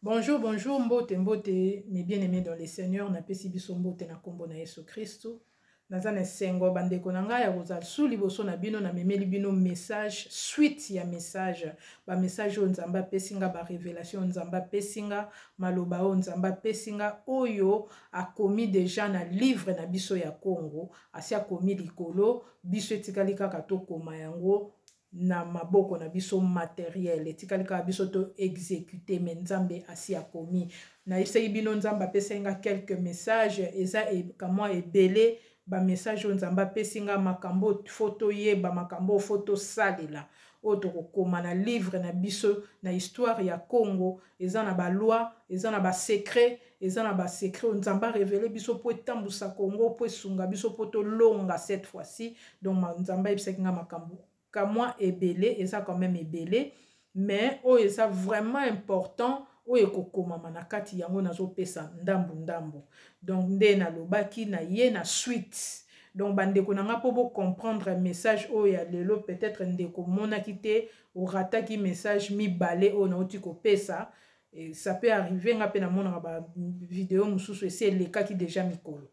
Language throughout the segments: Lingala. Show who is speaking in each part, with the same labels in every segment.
Speaker 1: Bonjour, bonjour, mbote, mbote, mes bien-aimés dans le Seigneur, na pesi biso mbote na kombo na Yesu Kristo. Naza na sengo bandeko na ngai ya kozala su liboso na bino na memeli bino message suite ya message ba message oyo Nzambe apesi nga ba révélation Nzambe apesi nga maloba oyo Nzambe apesi nga oyo akomi deja na livre na biso ya Congo asi akomi likolo biso etikali kaka tokoma yango na maboko na biso materiel etikali kaka biso to exécuter me nzambe asi akomi nayebisaki bino nzambe apesaki nga quelques messages eza kamwa ebele bamessage oyo nzambe apesi nga makambo oyo fo toyeba makambo oyo fo tosalela oyo tokokoma na livre na biso na histoire ya congo eza na ba loi eza na ba secret eza na ba secret oyo nzambe arevele biso mpo etambusa congo mpo esunga biso mpo tolonga cette fois-ci donc nzambe ayebisaki ngai makambo kamwa ebele eza quand même ebele mais oyo eza vraiment important oyo ekokomama na kati yango nazopesa ndambu ndambu donc nde nalobaki na ye na suite donc bandeko na ngai mpo bocomprendre message oyo ya lelo peut-être ndeko omonaki te orataki message mibale oyo nauti kopesa e, ça peut arriver nga mpe namonaka bavideo mosusu esi elekaki déjà mikolo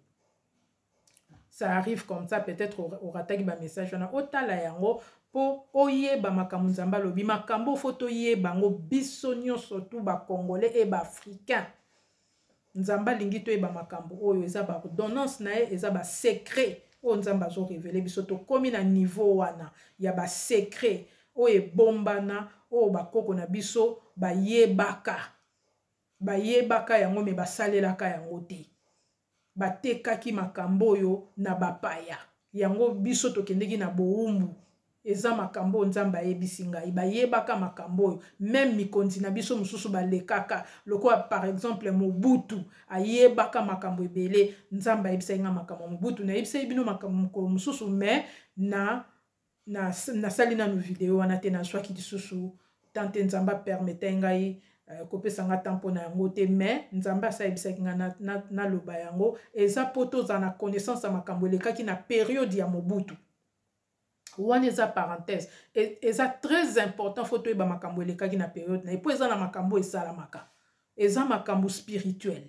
Speaker 1: ça arrive comme ça peut-être orataki bamessage wana otala yango mpo oyeba makambo nzambe alobi makambo ofo toyeba yango biso nyonso tu bacongolais e baafricain nzambe alingi toyeba makambo oyo eza baordonnance na ye eza basecret oyo nzambe azorevele biso tokómi na niveau wana ya basecret oyo ebombana oyo bakoko na biso bayebaka bayebaka yango me basalelaka yango te batekaki makambo oyo na bapaya yango biso tokendeki na bowumbu eza makambo oyo nzambe ayebisi ngai bayebaka makambo oyo meme mikonzi na biso mosusu balekaka lokola par exemple mobutu ayebaka makambo ebele nzambe ayebisaki ngai makambo ya mobutu nayebisaki bino makambo mokolo mosusu mais na nasali na, nanu video wana te nazwaki lisusu temps te nzambe apermetai ngai uh, kopesa ngai temps mpo na yango te mais nzambe asayebisaki ngai naloba na, na yango eza mpo tozala na connaissance ya makambo elekaki na periode ya mobutu wana eza parenthèse e, eza très important fo toyeba makambo elekaki na periode na ye mpo eza na makambo esalamaka eza makambo spirituel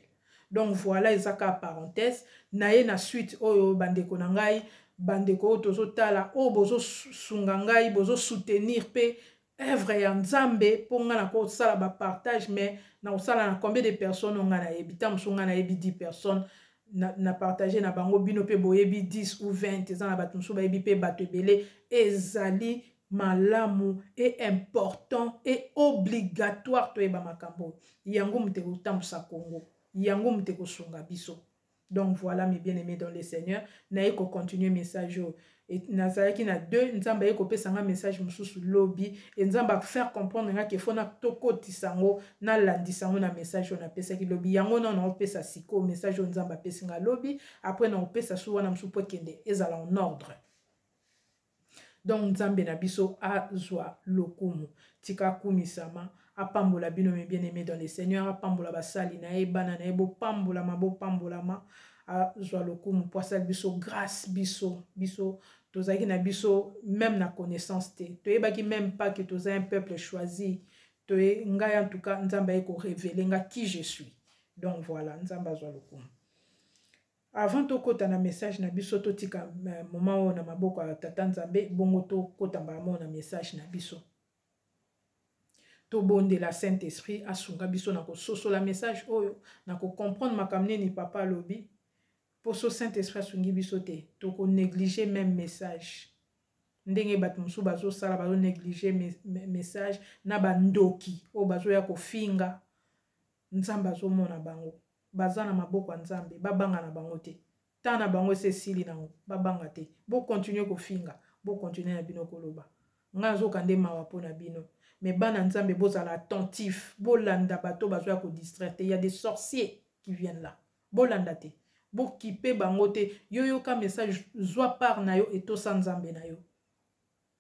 Speaker 1: donc voilà eza ka parenthèse naye na suite oyo bandeko na ngai bandeko oyo tozotala oyo bozosunga ngai bozosoutenir mpe œuvre ya nzambe mpo ngai nakosala bapartage mais nakosala na combien de personnes oyo ngai nayebi ntango mosusu ngai nayebi 10 personnes na, na partage na bango bino mpe boyebi 10 ou 20 eza na bato mosusu bayebi mpe bato ebele ezali malamu e important e obligatoire toyeba makambo oyo yango moto ekotambusa congo yango moto ekosunga biso donc voilà mes bien aimé dans le seigneur naye kocontinue message oyo nazalaki na deux nzambe aye kopesa nga message mosusu lobi e nzambe afaire comprendre nga kefo na tokotisa yango nalandisa yango na message oyo napesaki lobi yango nao naopesa sikoyo message oyo nzambe apesi nga lobi après naopesa su wana mosusu mpo ekende ezala en ordre donc nzambe na biso azwa lokumu tika akumisama apambola bino mes bien aimé dans le seigneur apambola basali na ye bana na ye bopambolama bopambolama azwa lokumu mpo asali biso grâce biso biso tozalaki na biso même na connaissance te toyebaki même pas que toza un peuple choisi toye ngai en tout cas nzambe aye korevele nga qui je suis donc voilà nzambe azwa lokumu Avant tokota na message na biso totika euh, moma oyo na maboko ya tata Nzambe bongo tokota mbala moko na message na biso. Tobondela Saint-Esprit asunga biso na kososola message oyo na kocomprendre makambo nini papa alobi mpo so Saint-Esprit asungi biso te toko négliger même message ndenge bato mosusu bazosala bazonéglige message na bandoki oyo bazoya kofinga nzambe azomona bango baza na maboko ya nzambe babanga na bango te ta na bango esi esili nango babanga te bokontinue kofinga bokontinue na bino koloba ngai azoka nde mawa mpo na bino mais bana nzambe bozala attentif bolanda bato bazoya kodistraire te ya des sorciers qui viennent là bolanda te bokipe bango te yo yoka message zwa part na yo etosa nzambe na yo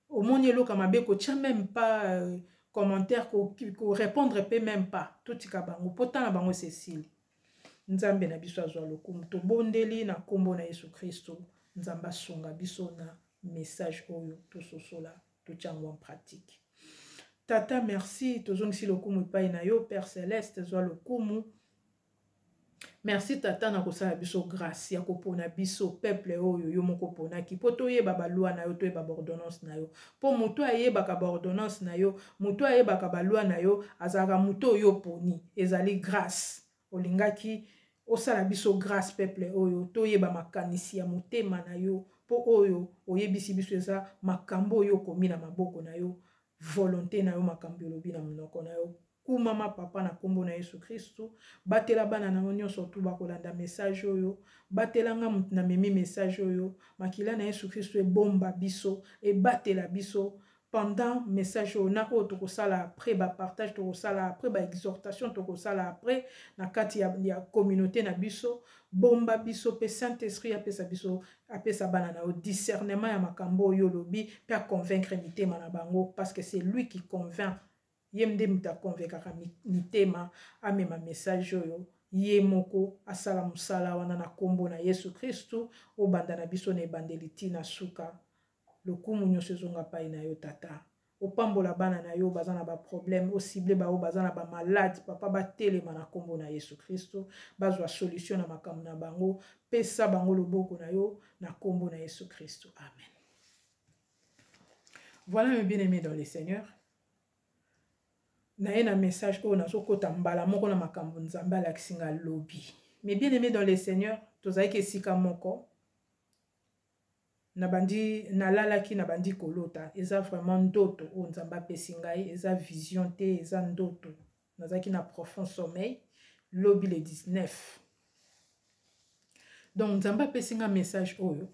Speaker 1: omoni eloka mabe kotya meme pas euh, commentaire korépondre mpe meme pas totika bango mpo ntan na bango esesili nzambe na biso azwa lokumu tobondeli na nkombo na yesu kristo nzambe asunga biso na message oyo tososola totya yango en pratique tata merci tozongisi lokumu epai na yo père celeste zwa lokumu merci tata na kosala biso grâce ya kopona biso peuple oyo yo moko oponaki mpo toyeba balwa na yo toyeba baordonnance na yo mpo moto ayebaka baordonnance na yo moto ayebaka balwa na yo azalaka moto oyo oponi ezali grâce olingaki osala biso grâce peuple oyo toyeba makanisi ya motema na yo mpo oyo oyebisi biso eza makambo oyo okomi na maboko na yo volonte na yo makambo olobi na monoko na yo kumama papa na nkombo na yesu kristu batela bana na yo nyonso tu bakolanda message oyo batela nga moto na memi message oyo makila na yesu kristu ebomba biso ebatela biso pendant message oyo na oyo tokosala après bapartage tokosala après baexhortation tokosala après na kati ya, ya communauté na biso bomba biso mpe saint esprit apesa biso apesa bana na yo discernement ya makambo oyo olobi mpe aconvaincre mitema na bango parce que c'est lui qui convainc ye nde moto aconvaikaka mitema amema message oyo ye moko asala mosala wana na nkombo na yesu kristu obanda na biso na ebandeli ntina suka lokumu nyonso ezonga pai na yo tata opambola bana na yo baza na baproblème osible baoyo baza na bamalade papa batelema na nkombo na yesu kristo bazwa solution na makambo na bango pesa bango loboko na yo na nkombo na yesu kristo amen voilà mes bien aimé dans le seigneur naye na message oyo nazokota mbala moko na makambo nzambe alakisi nga lobi mes bien aimé dans le seigneur tozalaki esika moko nabandi nalalaki nabandi kolota eza vraiment ndoto oyo nzambe apesi ngai eza vision te eza ndoto nazalaki na profond sommeil lobi le 19 donc nzambe apesi ngai message oyo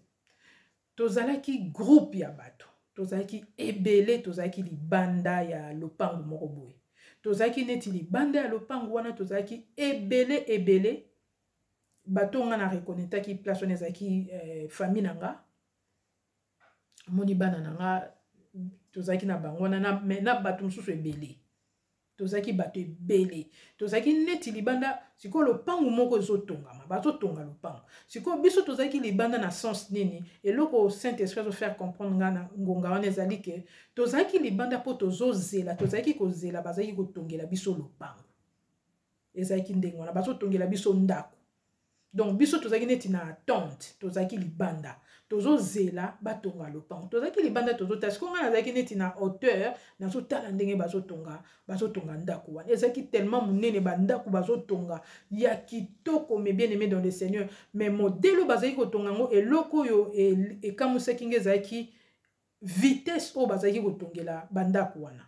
Speaker 1: tozalaki groupe ya bato tozalaki ebele tozalaki libanda ya lopango moko boye tozalaki neti libanda ya lopango wana tozalaki ebele ebele bato oyo ngai na reconnetaki place wana ezalaki eh, famille na nga amoni bana na nga tozalaki na bango wana na, na bato mosusu ebele tozalaki bato ebele tozalaki neti libanda sikoyo lopango moko ezotongama bazotonga lopango sikoyo biso tozalaki libanda na sens nini eloko saint esprit azofaire comprendre ngai na ngonga wana ezali ke tozalaki libanda mpo tozozela tozalaki kozela bazalaki kotongela biso lopango ezalaki ndenge wana bazotongela biso ndako donc biso tozalaki neti na attente tozalaki libanda tozozela batonga lopango tozalaki libanda tozotala siko ngai nazalaki neti na hauteur nazotala ndenge bazotonga bazotonga ndako wana ezalaki tellement monene bandako bazotonga ya kitoko mais bien aimé dans le seigneur mais modele oyo bazalaki kotonga yango eloko oyo e, ekamusaki ngai ezalaki vitesse oyo bazalaki kotongela bandako wana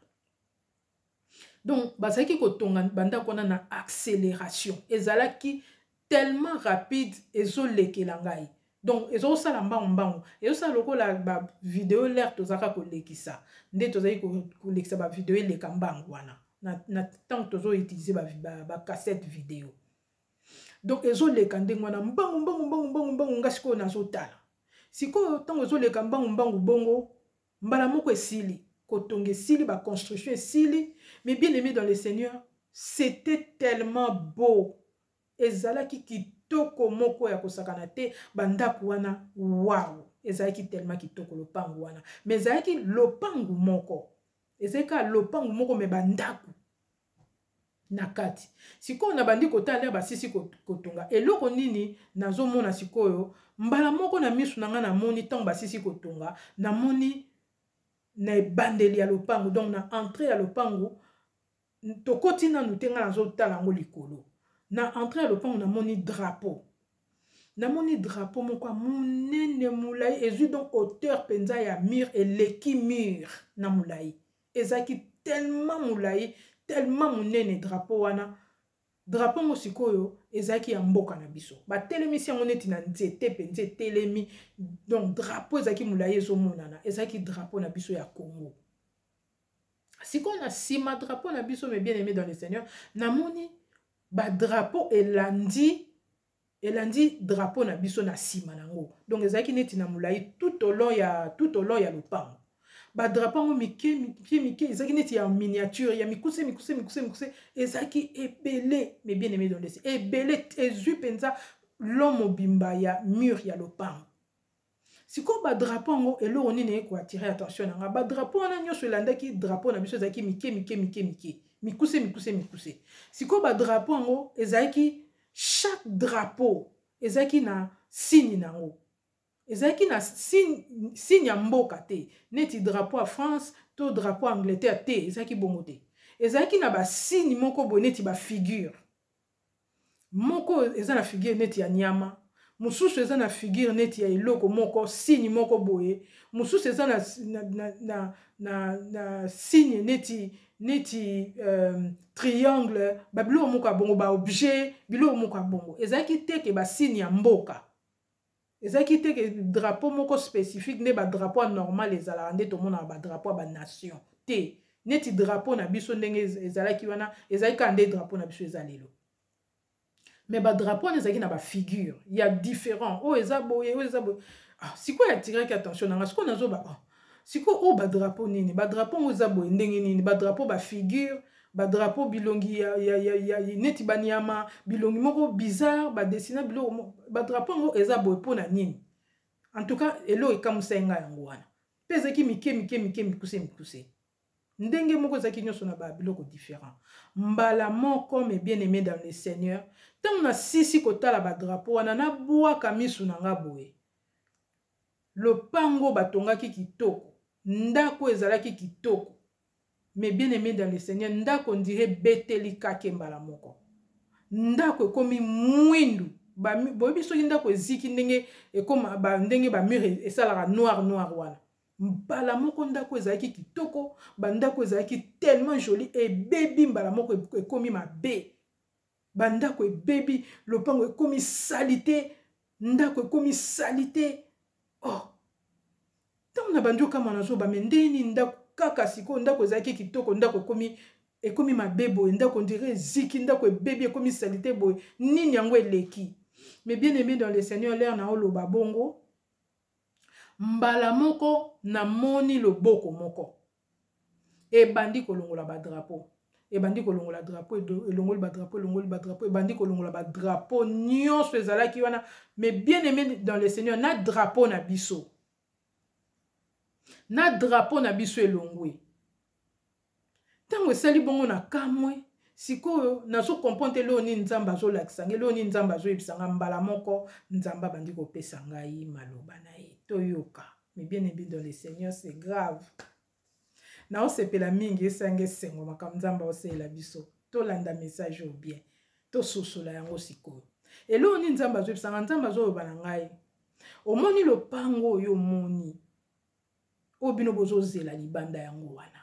Speaker 1: donc bazalaki kotonga bandako wana na accélération ezalaki tellement rapide ezolekela ngai donc ezosala mbangu mbangu ezosala lokola bavideo lere tozalaka kolekisa nde tozali kolekisa bavideo eleka mbangu wana na ntango tozoutilize bacassette video donc ezoleka ndenge wana mbangu mbangu mbangu mbangu mbangu nga sikoyo nazotala sikoyo ntango ezoleka mbangu mbangu bongo mbala moko esili kotonga esili ba construction esili mais bien aimé dans le seigneur c'était tellement beau ezalaki kitoko moko ya kosakana te bandako wana waw ezalaki tellement kitoko lopango wana mais ezalaki lopango moko ezalaki kaka lopango moko me bandako na kati sikoyo nabandi kotala nde basisi kotonga eloko nini nazomona sikoyo mbala moko na miso na ngai namoni ntango basisi kotonga namoni na ebandeli ya lopango donc na entrée ya lopango tokoti nanu te ngai nazotala yango likolo na entrée ya lopango namoni drapeau namoni drapeau moko ya monene molai ezwi donc hauteur mpenza ya mur eleki mur na molai ezalaki tellement molai tellement monene drapeau wana drapo yango sikoyo ezalaki ya mboka na biso batelemisi yango neti na nzete mpenza etelemi donc drapo ezalaki molai ezomonana ezalaki drapo na biso ya congo sikoyo na nsima drapo na biso me bien aimé dans le seigneur namoni badrapo elandi elandi drapeau na biso na nsima na yango donc ezalaki neti na molai tout au long ya tout au long ya lopango badrapo yango mike mike mike ezalaki neti ya miniature ya mikuse mikuse mikuse mikuse ezalaki ebele mais bien aimé dondesi ebele ezwi mpenza lo mobimba ya mur ya lopango sikoyo badrapo yango eloko nini eye koattire attention na nga badrapo wana nyonso elandaki drapo na biso ezalaki mike mike mike mike mikuse mikuse mikuse sikoyo badrapo yango ezalaki chaque drapo ezalaki na signe na yango ezalaki na signe ya mboka te neti drapo ya france to drapo ya angleterre te ezalaki bongo te ezalaki na basigne moko boye neti bafigure moko eza na figure neti ya nyama mosusu eza na figure neti ya eloko moko signe moko boye mosusu eza na, na, na, na, na, na signe neti neti euh, triangle babiloko moko ya bongo baobjet biloko moko ya bongo ezalaki te ke basigne ya mboka ezalaki te ke drapeau moko spécifique nde badrapeau ya normal ezalaka nde tomonaka badrapeau ya banation te neti drapeau na biso ndenge ezalaki wana ezalaki kaka nde drapeau na biso eza lelo mais badrapeau wana ezalaki na bafigure ya différent oyo eza boye oyo eza boye ah, sikoyo atiraki attention na nga sikoyo nazoba ah, sikoyo oyo oh, badrapo nini badrapo yango eza boye ndenge nini badrapo bafigure badrapo bilongi ya, ya, ya, ya, neti banyama bilongi moko bizarre badesina biloko badrapo yango eza boye mpo na nini en tout cas eloko ekamusai ngai yango wana mpe ezalaki mike mike mike mikuse mikuse ndenge moko ezalaki nyonso na babiloko différent mbala moko me bien aimé dans le seigneur ntango nasisi kotala badrapo wana nabwaka misu na nga boye Lopango batongaki kitoko, ndako ezalaki kitoko. Mais bien aimé dans le Seigneur, ndako ndire beteli kake mbala moko. Ndako ekomi mwindu. Boyebi soki ndako eziki ndenge ekoma ba, ndenge ba mur e, esalaka noir noir wana. Mbala moko ndako ezalaki kitoko, ba ndako ezalaki tellement jolie ebebi mbala moko ekomi mabe. bandako ebebi lopango ekomi salite ndako ekomi salite oh ntango na bandi okama nazoba me ndenge nini ndako kaka sikoyo ndako ezalaki kitoko ndako ekomi ekomi mabe boye ndako ondire eziki ndako ebebi ekomi salite boye nini yango eleki mais bien aimé dans le seigneur lere na oloba bongo mbala moko namoni loboko moko ebandi kolongola badrapo ebandi kolongola drapo elongoli badrapo elongoli badrapo ebandi kolongola badrapo nyonso ezalaki wana mais bien aimé dans le seigneur na drapo na biso na drapo na biso elongwe ntango esali bongo na kamwe sikoyo nazokomprendre te leo nini nzambe azolakisa ngai leo nini nzambe azoyebisa ngai mbala moko nzambe abandi kopesa ngai maloba na ye toyoka Mais bien aimé dans le Seigneur, c'est grave. naosepela mingi esanga esengo makambo nzambe aosalela biso tolanda message oyo bien tososola yango sikoyo eloko nini nzambe azoyebisanga nzambe azoloba na ngai omoni lopango oyo omoni oyo bino bozozela libanda yango wana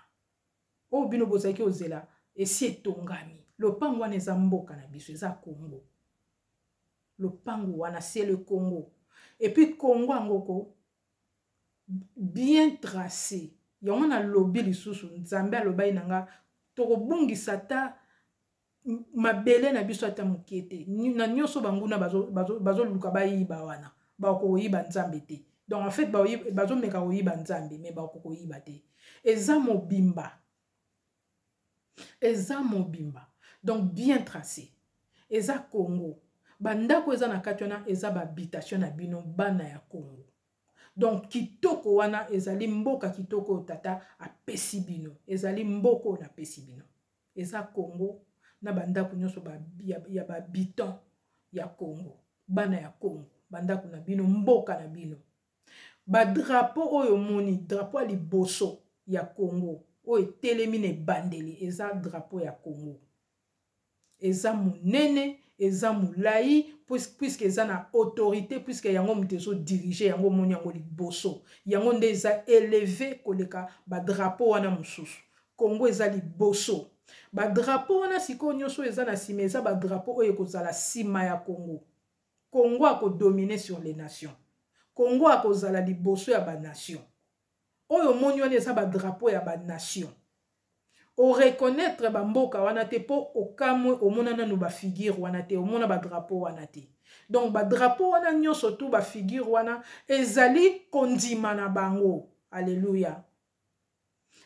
Speaker 1: oyo bino bozalaki ozela esi etongami lopango wana eza mboka na biso eza congo lopango wana se le congo epuis congo yango ko bien trace yango nalobi lisusu nzambe alobaki na nga tokobungisa ata mabele na biso ata moke te na nyonso banguna bazoluka bayiba wana bakoki koyiba nzambe te donc en fait bazomeka koyiba nzambe me bakoki koyiba te eza mobimba eza mobimba donc bien tracé eza congo bandako eza na kati wana eza bahabitation na bino bana ya congo donc kitoko wana ezali mboka kitoko oyo tata apesi bino ezali mboka oyo napesi bino eza congo na bandako nyonso ba, ya, ya bahabitant ya congo bana ya congo bandako na bino mboka na bino badrapo oyo omoni drapo ya liboso ya congo oyo etelemi na ebandeli eza drapo ya congo eza monene eza molai puiske eza na autorité puiske yango moto ezodirige yango omoni yango liboso yango nde eza eleve koleka badrapo wana mosusu Congo eza liboso. Ba drapeau wana sikoyo nyoso eza na sima eza ba drapeau oyo ekozala sima ya Congo. Congo ako dominer sur les nations. Congo akozala liboso ya ba nations. Oyo moni wana eza ba drapeau ya ba nations. O reconnaître ba mboka wana te po okamwe omona nanu ba figure wana te omona ba drapeau wana te. Donc ba drapeau wana nyoso tout ba figure wana ezali kondima na bango. Alléluia.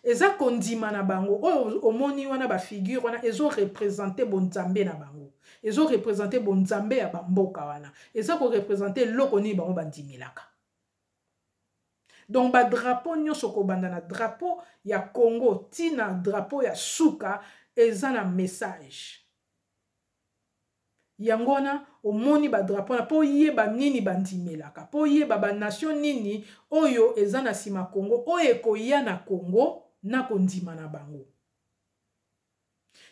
Speaker 1: eza kondima na bango oyo omoni wana bafigure wana ezorepresente bonzambe na bango ezorepresente bonzambe ya bamboka wana eza korepresente eloko nini bango bandimelaka donc badrapo nyonso kobanda na drapo ya congo ntina drapo ya suka eza na message yango wana omoni badrapo wana mpo oyeba nini bandimelaka mpo oyeba banation nini oyo eza na nsima congo oyo ekoya na congo na kondima na bango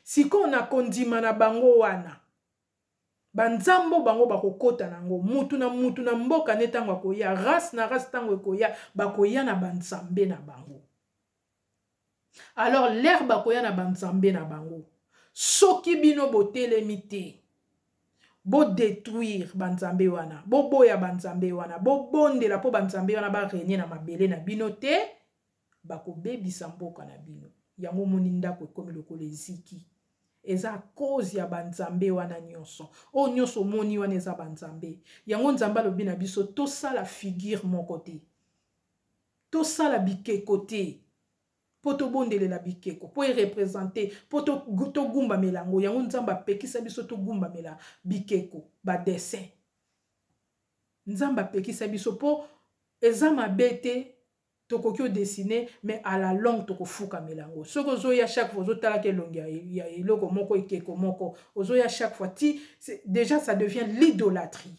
Speaker 1: sikoyo na kondima na bango wana banzambo bango bakokɔta na yango mutu na mutu na mboka ne ntango akoya race na race ntango ekoya bakoya na banzambe na bango alors lere bakoya na banzambe na bango soki bino botelemi te bodetruire banzambe wana boboya banzambe wana bobondela mpo banzambe wana barenie na mabele na bino te bakobebisa mboka na bino yango omoni ndako ekomi lokola eziki eza cause ya banzambe wana nyonso oyo nyonso omoni wana eza banzambe yango nzambe alobi na biso tosala figure moko te tosala bikeko te mpo tobondelela bikeko mpo erepresente mpo togumbamela yango yango nzambe apekisa biso togumbamela bikeko badessin nzambe apekisa biso mpo eza mabe te tokoki odesine mais à la longue tokofukamela yango soki ozoya chaque fois ozotalaka elongi ya eloko moko ekeko moko ozoya chaque fois ti déjà ça devient l'idolâtrie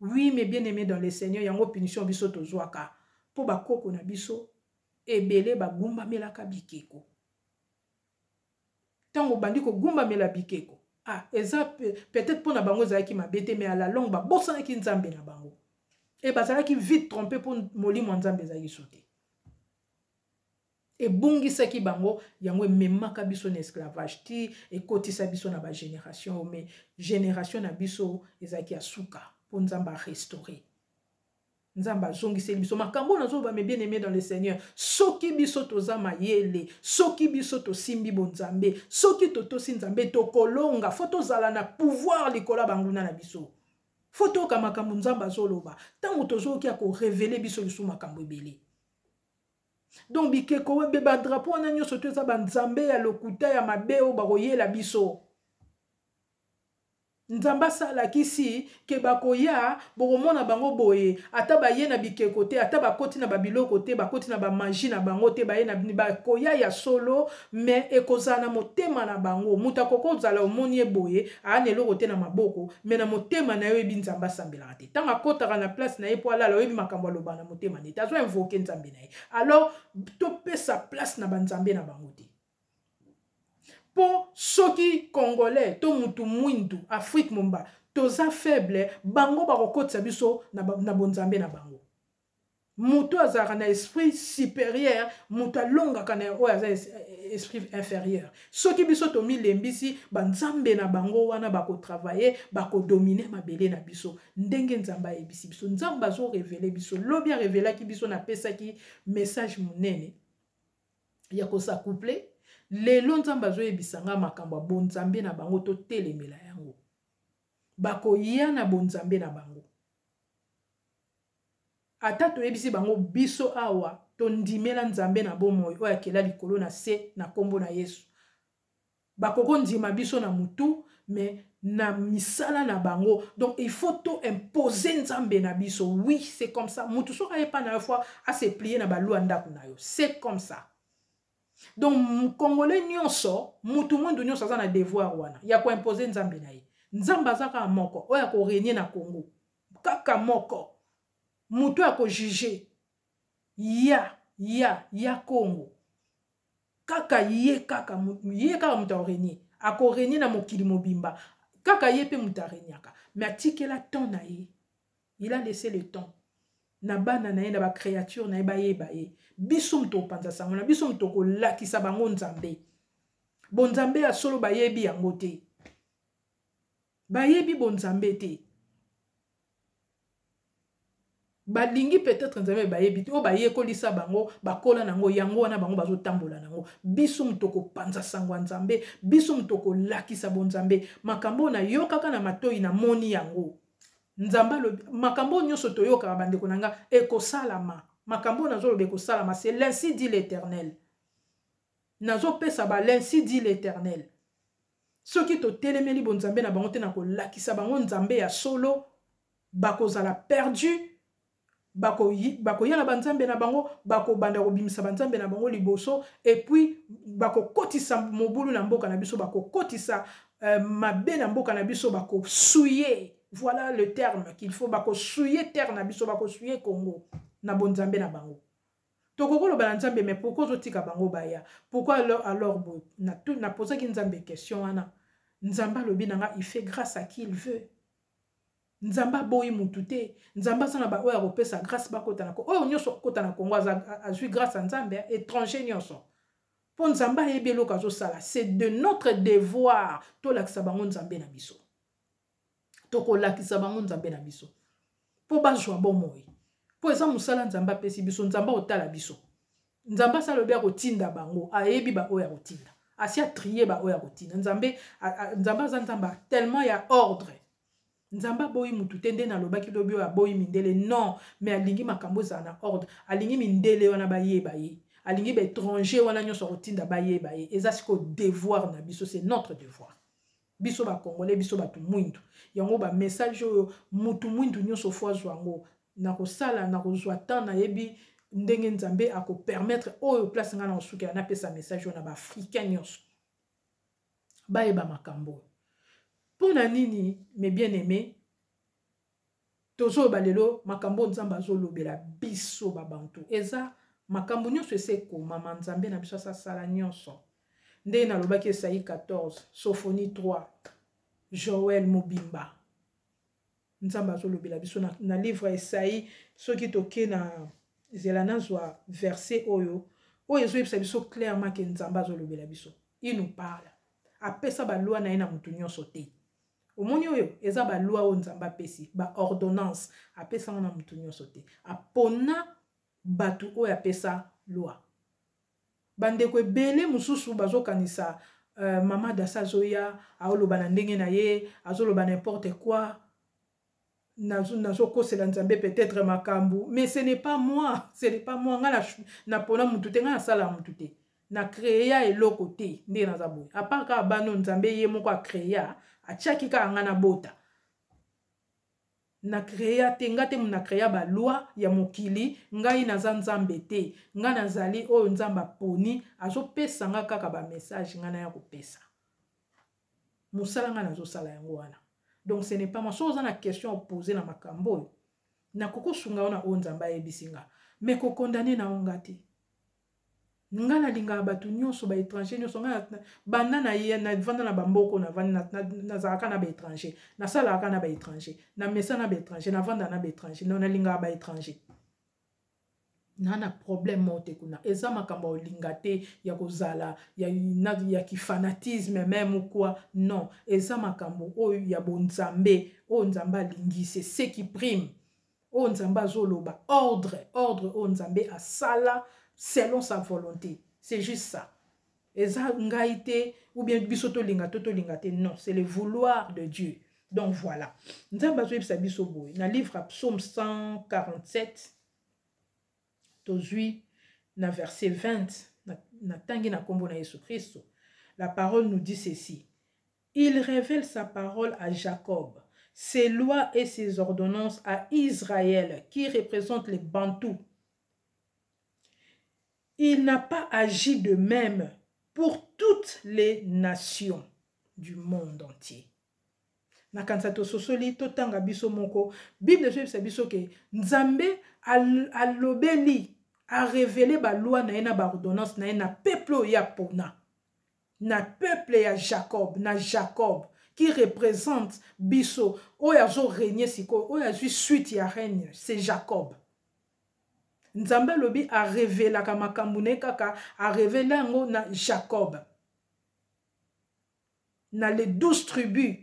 Speaker 1: Oui mes bien aimés dans le Seigneur yango punition biso tozwaka mpo bakoko na biso ebele bagumbamelaka bikeko ntango obandi kogumbamela bikeko ah, eza peut-être mpo na bango ezalaki mabe te mais à la longue babosanaki nzambe na bango e bazalaki vite trompe mpo molimo ya nzambe ezalaki so te ebungisaki bango yango ememaka biso na esclavage ti ekotisa biso na bagénération oyo mais génération na biso ezalaki ya suka mpo nzambe arestaure nzambe azongiseli biso makambo oyo nazoloba me bien aimé dans le seigneur soki biso toza mayele soki biso tosimbi bonzambe soki totosi nzambe tokolonga fo tozala na pouvoir likolo ya banguna na biso fo toyoka makambo nzambe azoloba ntango tozoyoki ya korevele biso lisusu makambo ebele donc bikeko webe badrapo wana nyonso to eza banzambe ya lokuta ya mabe oyo bakoyela biso nzambe asalakisi ke bakoya bokomona bango boye ata baye na bikeko te ata bakoti na babiloko te bakoti na bamagi na bango te baye na bini bakoya ya solo me ekozala na motema na bango moto akoki kozala omoni ye boye aa na eloko te na maboko me na motema na yo oyebi nzambe asambelaka te ntango akotaka na place na ye mpo alala oyebi makambo aloba na motema nete azo invoke nzambe na ye alors topesa place na banzambe na bango te mpo soki congolais to mutu mwindu afrique momba toza faible bango bakokotisa biso na, na bonzambe na bango moto azalaka na esprit supérieur moto alongaka na oyo aza esprit inférieur soki biso tomilembisi banzambe na bango wana bakotravaille bakodomine mabele na biso ndenge nzambe ayebisi biso nzambe azorevele biso lobi arevelaki biso napesaki message monene ya kosacouple lelo nzambe azoyebisa ngai makambo ya bonzambe na bango totelemela yango bakoya na bonzambe na bango ata toyebisi bango biso awa tondimela nzambe na bomoi oyo akela likolo na se na nkombo na yesu bakoki kondima biso na motu me na misala na bango donc il faut to impose nzambe na biso oui c'est comme ça motu soki ayepa na yo fois aseplie na balua ndako na yo c'est comme ça donc mokongole nyonso motu mwindu nyonso aza na devoir wana ya koimpose nzambe na ye nzambe aza kaka moko oyo akorenie na congo kaka moko moto ya kojuge ya ya ya congo kaka ye kaka ye kaka moto aorenie akorenie na mokili mobimba kaka ye mpe moto areniaka me atikela temps na ye il a laissé le temps na bana na ye na bacréature na ye bayeba ye biso moto opanza sango na biso moto okolakisa bango nzambe bonzambe ya solo bayebi yango te bayebi bonzambe te balingi peut-être nzambe bayebi te oyo bayekolisa bango bakola na yango yango wana bango bazotambola na yango biso moto kopanza sango ya nzambe biso moto kolakisa bonzambe makambo oyo nayokaka na matoi namoni yango nzambe alobi makambo oyo nyonso toyokaka bandeko na nga ekosalama makambo oyo nazoloba ekosalama se linsi di l'éternel nazopesa ba linsi di l'éternel soki totelemeli bonzambe na bango te na kolakisa bango nzambe ya solo bakozala perdu bakoya bako na banzambe na bango bakobanda kobimisa banzambe na bango liboso epuis bakokotisa mobulu na mboka na biso bakokotisa euh, mabe na mboka na biso bakosuye voilà le terme qu'il faut bakosuye terre na biso bakosuye congo na bonzambe na bango tokoki koloba na nzambe mais pourkui ozotika bango baya pourkui alors, alors boye napozaki nzambe question wana nzambe alobi na nga il fait grâce à qui il veut nzambe aboyi mutu te nzambe aza na baoyo akopesa grâce bakota na oyo nyonso akota na kongo azwi grâce ya nzambe eh, étranger nyonso mpo nzambe ayebi eloko azosala c'est de notre devoir tolakisa bango nzambe na biso tokolakisa bango nzambe na biso mpo bazwa bomoi mpo eza mosala nzambe apesi biso nzambe akotala biso nzambe asi alobi akotinda bango ayebi baoyo akotinda asi atrie baoyo akotinda nzambe nzambe aza nzambe tellement ya ordre nzambe aboyi motu te nde nalobaki lobi oyo aboyi mindele non mais alingi makambo ezala na ordre alingi mindele wana bayeba ye alingi baétranger wana nyonso akotinda bayeba ye eza sikoyo devoir na biso c'est notre devoir biso ba congolais biso bato mwindu yango ba message oyo motu mwindu nyonso fo azwa yango nakosala nakozwa temps nayebi ndenge nzambe akopermettre oyo place ngai nakosukela napesa message oyo na baafricain nyonso bayeba makambo oyo mpo na nini mes bien aimé tozoloba lelo makambo oyo nzambe azolobela biso babantu eza makambo nyonso esi ekomama nzambe na biso asasala nyonso ndenge nalobaki esai 14 sofoni 3 joel mobimba nzambe azolobela biso na, na livre esai soki toke na zela nazwa verse oyo oyo ezoyebisa biso clairement ke nzambe azolobela biso inopala apesa balwa na ye na moto nyonso te omoni oyo eza balwa oyo nzambe apesi baordonnance apesanga na motu nyonso te apona bato oyo apesa lwa bandeko ebele mosusu bazokanisa uh, mama dasa azoya aoloba na ndenge na ye azoloba n'importe quoi nazokosela nzambe peut-être makambo mais ce n'est pas moi ce n'est pas moi ngai napona mutu te ngai nasala mutu te na créa eloko te nde naza boye apart kaka bano nzambe ye moko acréa atiaki kaka ngai nabota na créa te ngai te na créa baloi ya mokili ngai naza nzambe te ngai nazali oyo nzambe aponi azopesa ngai kaka bamessage ngai naya kopesa mosala ngai nazosala yango wana donc ce n'est pas moi soki oza na question opose na makambo oyo nakoki osunga yo na oyo nzambe ayebisi nga me kokondane na yo nga te nga nalingaka bato nyonso baétranger nyonso nga banda navanda na bamboko nazalaka na baétranger nasalaka na baétranger na mesa na baétranger navanda na baétranger nalingaka baétranger na na problème moko te kuna eza makambo ya olinga te ya kozala ya, na, ya kifanatisme meme quoi non eza makambo oyo ya bonzambe oyo nzambe alingi se se qui prime oyo nzambe azoloba ordre ordre oyo nzambe asala selon sa volonté c'est juste ça eza ngai te ou bien biso tolinga to tolinga te non c'est le vouloir de dieu donc voilà nzambe azoyebisa biso boye na livre ya psaume 147 tozwi na verset 20 natangi na nkombo na yesu kristo la parole nous dit ceci il révèle sa parole à jacob ses lois et ses ordonnances à israël qui représente les bantous il n'a pas agi de même pour toutes les nations du monde entier nakanisa tososoli totanga biso moko bible ezoyebisa biso ke nzambe alobeli arevele balwa na ye na baordonnance na ye na peuple oyo ya pona na peuple ya jacob na jacob qui représente biso oyo azoregne sikoyo oyo azwi suite ya règne c'est jacob nzambe alobi arevelaka makambo na ye kaka arevela yango na jacob na les 12 tribus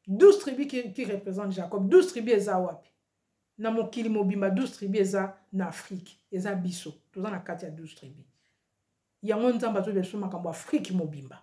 Speaker 1: 12 tribus qui, qui représente jacob 12 tribus eza wapi na mokili mobimba 12 tribus eza na afrike eza biso toza na kati ya 12 tribus yango nzambe azobela biso makambo afrike mobimba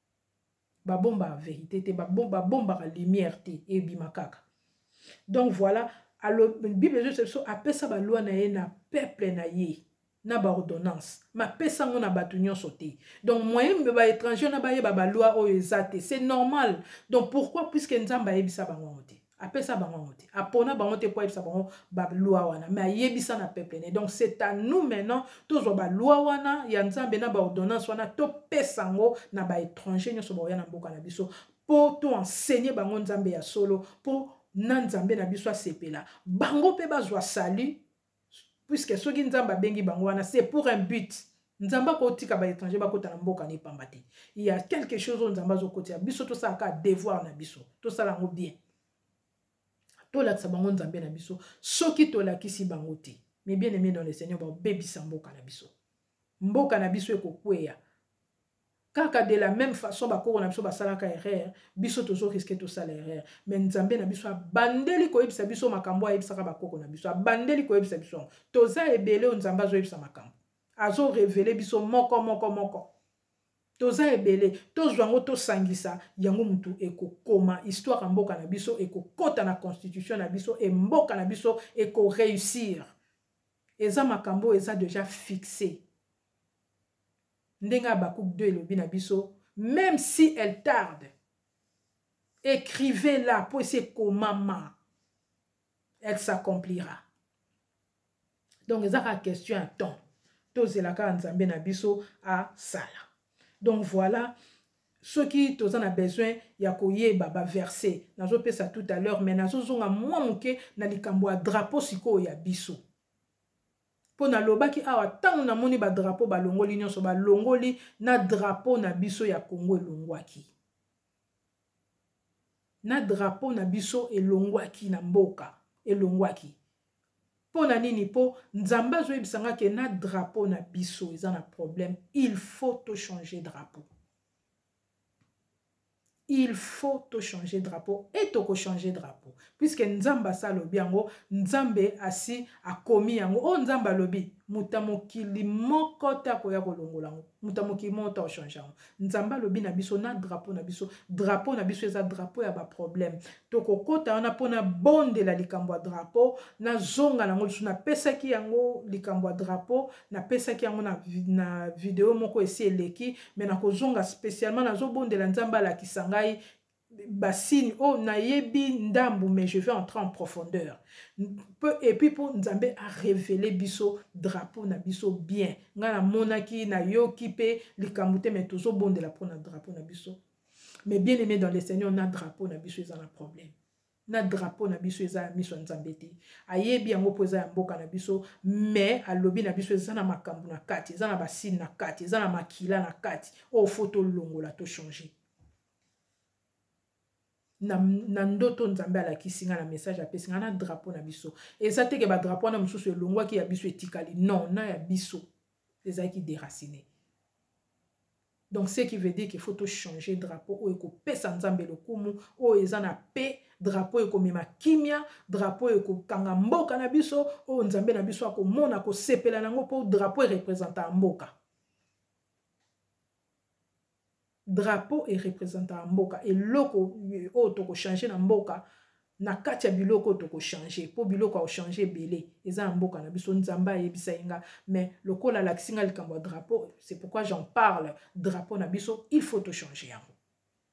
Speaker 1: babombaka verité te babombaka lumière te ebima kaka donc voilà bible ezolisa biso apesa balwa na ye na peuple na ye na baordonnance mapesa yango na bato nyonso te donc moyen baétranger na bayeba balwa oyo eza te c'est normal donc pourquoi puiske nzambe ayebisa bango yango te apesa bango yango te apona bango te mpo ayebisa bango balwa wana mais ayebisa na peuple ne donc c'est à nous maintenant tozwa balwa wana ya nzambe na baordonnance wana topesa yango na baétranger nyonso baoya na mboka na biso mpo toenseigne bango nzambe ya solo mpo na nzambe na biso asepela bango mpe bazwa salut puisque soki nzambe abengi bango wana c'est pour un but nzambe akotika baétranger bakota na mboka na ye pamba te ya quelque chose oyo nzambe azokotisa biso tosala kaka devoir na biso tosala yango bien tolakisa bango nzambe na biso soki tolakisi bango te mais bien aimé dans le seigneur babebisa mboka na biso mboka na biso ekokweya kaka de la même façon bakoko na biso basalaka erreur biso tozo riske tosala erreur me nzambe na biso abandeli koyebisa biso makambo ayebisaka bakoko na biso abandeli koyebisa biso yango toza ebele oyo nzambe azoyebisa makambo azorevele biso moko moko moko toza ebele tozwa yango tosangisa yango motu ekokoma histoire ya mboka na biso ekokota na constitution na biso e mboka na biso ekoreusir eza makambo oyo eza deja fixe ndenge habacuc 2 elobi na biso même si elle tarde écrivez la mpo esi ekomama elle s'accomplira donc eza kaka question ya temps tozela kaka nzambe na biso asala donc voilà soki toza na besoin ya koyeba baverse nazopesa tout à l'heure mais nazozonga mwa moke na likambo ya drapeau sikoyo ya biso mpo nalobaki awa ntango namoni badrapo balongoli nyonso balongoli na drapo na biso ya kongo elongwaki na drapo na biso elongwaki na mboka elongwaki mpo na nini mpo nzambe azoyebisa nga ke na drapo na biso eza na problème il faut tochange drapo il faut to changer drapeau et toko changer drapeau puisque nzambe asi alobi yango nzambe asi akomi yango oyo oh, nzambe alobi moto ya mokili moko te akoya kolongola yango moto ya mokili moko te akochange yango nzambe alobi na biso na drapeau na biso drapeau na biso eza drapeau ya baproblème tokokota wana mpo nabondela likambo ya drapo nazonga nango lisusu napesaki yango likambo ya drapo napesaki yango na, na video moko esi eleki me nakozonga spécialement nazobondela nzambe alakisa ngai basini oyo oh, nayebi ndambu mais je vais entrer en profondeur epuis mpo nzambe arevele biso drapo na biso bien ngai namonaki nayoki mpe likambo te mai tozobondela mpo na drapo na biso mais bien aimé dans le seigneur na drapeau na biso eza na problème na drapeau na biso eza ya miso ya nzambe te ayebi yango mpo eza ya mboka na biso mais alobi na biso eza na makambo na kati eza na basine na kati eza na makila na kati oyo fo tolongola tochange na, na ndoto nzambe alakisi ngai na message apesi ngai na drapeau na biso eza teke badrapeau wana mosusu elongwaki ya biso etikali non na ya biso ezalaki deracine donc ce qui veut dire qu'il faut tochanger drapeau oyo ekopesa nzambe lokumu oyo eza na paix drapeau ekomema kimia drapeau ekokanga mboka na biso oyo nzambe na biso akomona kosepela na yango mpo drapeau erepresentaka mboka drapeau erepresentaka mboka eloko oyo tokochange na mboka na kati ya biloko tokochange mpo biloko akochange ebele eza ya mboka na biso nzambe ayebisa ye nga mais lokola alakisi nga likambo ya drapeau c'est pourquoi j'en parle drapeau na biso il faut tochange yango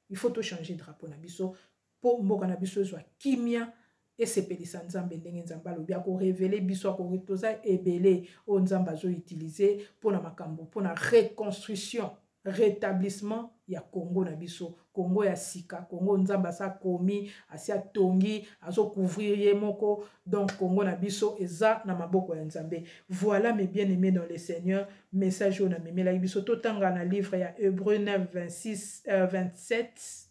Speaker 1: il faut tochange drapeau na biso mpo mboka na biso ezwa kimia esepelisa nzambe ndenge nzambe alobi akorevele biso akori toza ebele oyo nzambe azoutilize mpo na makambo mpo na reconstruction rétablissement ya congo na biso congo ya sika congo nzambe asi akomi asi atongi azocouvrir ye moko donc congo na biso eza na maboko ya nzambe voilà mes bien aimé dans le seigneur message oyo namemelaki biso totanga na livre ya hebreu 9 26 euh, 27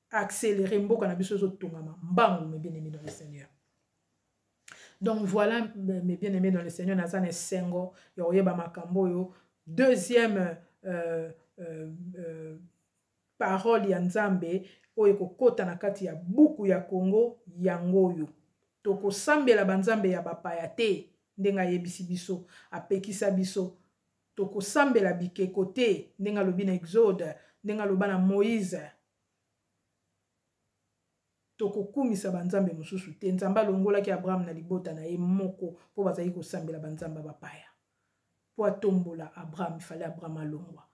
Speaker 1: accéléré mboka na biso ezotongama mbangu mes bien aimé dans le seigneur donc voilà mes bien aimé dans le seigneur naza na esengo ya koyeba makambo oyo deuxième euh, euh, euh, parole ya nzambe oyo ekokota na kati ya buku ya kongo yango oyo tokosambela banzambe ya bapaya te ndenge ayebisi biso apekisa biso tokosambela bikeko te ndenge alobi na exode ndenge aloba na moïse tokokumisa banzambe mosusu te nzambe alongolaki abraham na libota na ye moko mpo bazalaki kosambela banzambe ya bapaya mpo atombola abraham ifale abraham alongwa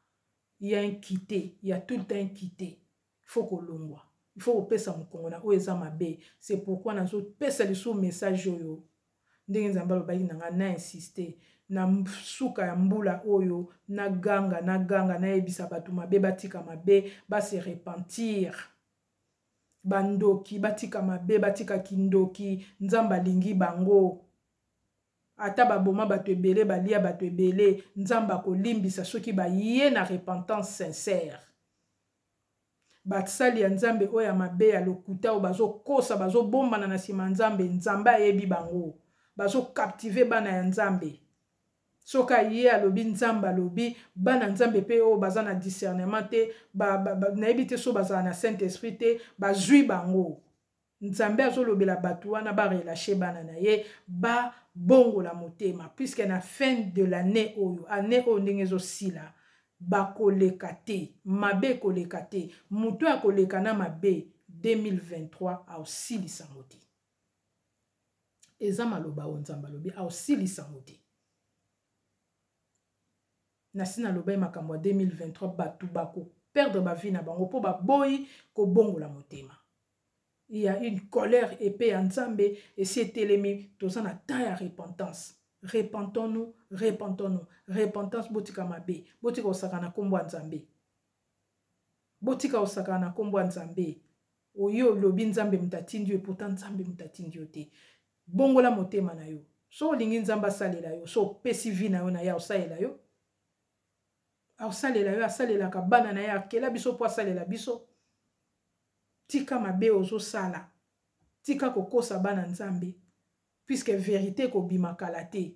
Speaker 1: ya nkite ya tout le temps nkite il faut kolongwa il faut kopesa mokongo na oyo eza mabe c'est pourquoi nazopesa lisusu message oyo ndenge nzambe alobaki na ngai na insiste na suka ya mbula oyo na ganga na ganga nayebisa bato mabe batika mabe base repentir bandoki batika mabe batika kindoki nzambe alingi bango ata baboma bato ebele balia bato ebele nzambe akolimbisa soki baye na repentance sincère basali ya nzambe oyo ya mabe ya lokuta oyo bazokosa bazobombana na nsima ya nzambe nzambe ayebi bango bazokaptive bana ya nzambe soki aye alobi nzambe alobi bana nzambe mpe oyo baza na discernement te nayebi te so bazala na saint esprit te bazwi bango nzambe azolobela bato wana barelache bana na ye babongola motema puiske na fin de l'année oyo année oyo ndenge ezosila bakoleka te mabe ekoleka te moto oyo akoleka na mabe 2023 aosilisa yango te eza maloba oyo nzambe alobi aosilisa yango te nasi nalobai makambo ya 2023 bato bakoperdre bavie na bango mpo baboyi kobongola motema il y a une colère epais ya nzambe esi etelemi toza na temps ya repentance repentons nous repentons nous repentance botika mabe botika kosaka na nkombo ya nzambe botika kosaka na nkombo ya nzambe oyo olobi nzambe moto atindi yo eputa nzambe moto atindi yo te bongola motema na yo so olingi nzambe asalela yo so opesi vi na yo na ye aosalela yo aosalela yo asalelaka bana na ye akela biso mpo asalela biso tika mabe ozosala tika kokosa bana nzambe puisque verite ekobima kala te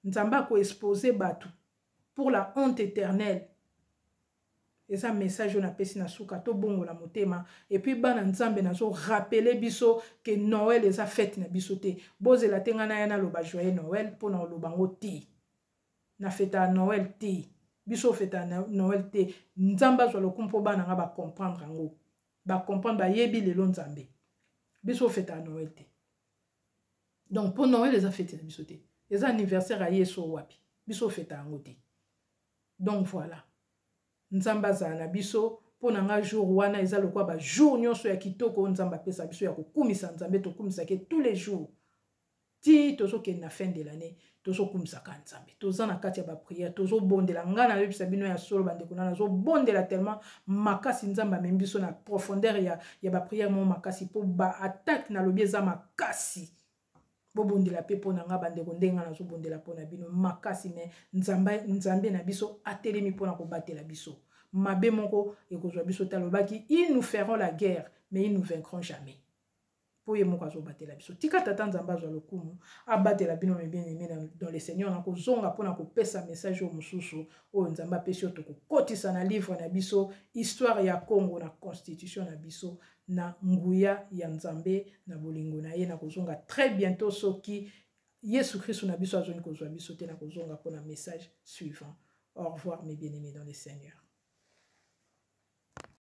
Speaker 1: nzambe akoexpose bato pour la honte éternelle eza message oyo napesi na suka tobongola motema epuis bana nzambe nazorapele biso ke noel eza fete na biso te bozela te ngai naya naloba joyeux noel mpo na oloba yango te na feta ya noel te biso feta ya noel te nzambe azwa lokumu mpo bana nga bacomprendre yango bacomprendre bayebi lelo nzambe biso feta ya noel te donc mpo noel eza fete na biso te eza anniversaire ya yesu wapi biso feta yango te donc voilà nzambe azala na biso mpo na ngai jour wana eza lokola bajour nyonso ya kitoko oyo nzambe apesa biso ya kokumisa nzambe tokumisake tous les jours ti tozokende na fin de l'année tozokumisaka nzambe toza na kati ya bapriere tozobondela ngai nayebisa bino ya solo bandeko na nazobondela tellement makasi nzambe amemi biso na profondeur ya, ya bapriere moko makasi mpo baattaque nalobi eza makasi bobondela mpe mpo na ngai bandeko ndenge ngai nazobondela mpo na bino makasi me nzambe, nzambe na biso atelemi mpo na kobatela biso mabe moko ekozwa biso te alobaki il nous ferons la guerre mais il nous vaincrons jamais mpo ye moko azobatela biso tika tata nzambe azwa lokumu abatela bino mebieneme dans le seigneur na kozonga mpo na kopesa message oyo mosusu oyo nzambe apesi yo tokokotisa na livre na biso histoire ya congo na constitution na biso na nguya ya nzambe na bolingo na ye na kozonga très bientôt soki yesu kristu na biso azongi kozwa biso te na kozonga mpo na message suivant au revoir mes bien aimés dans le seigneur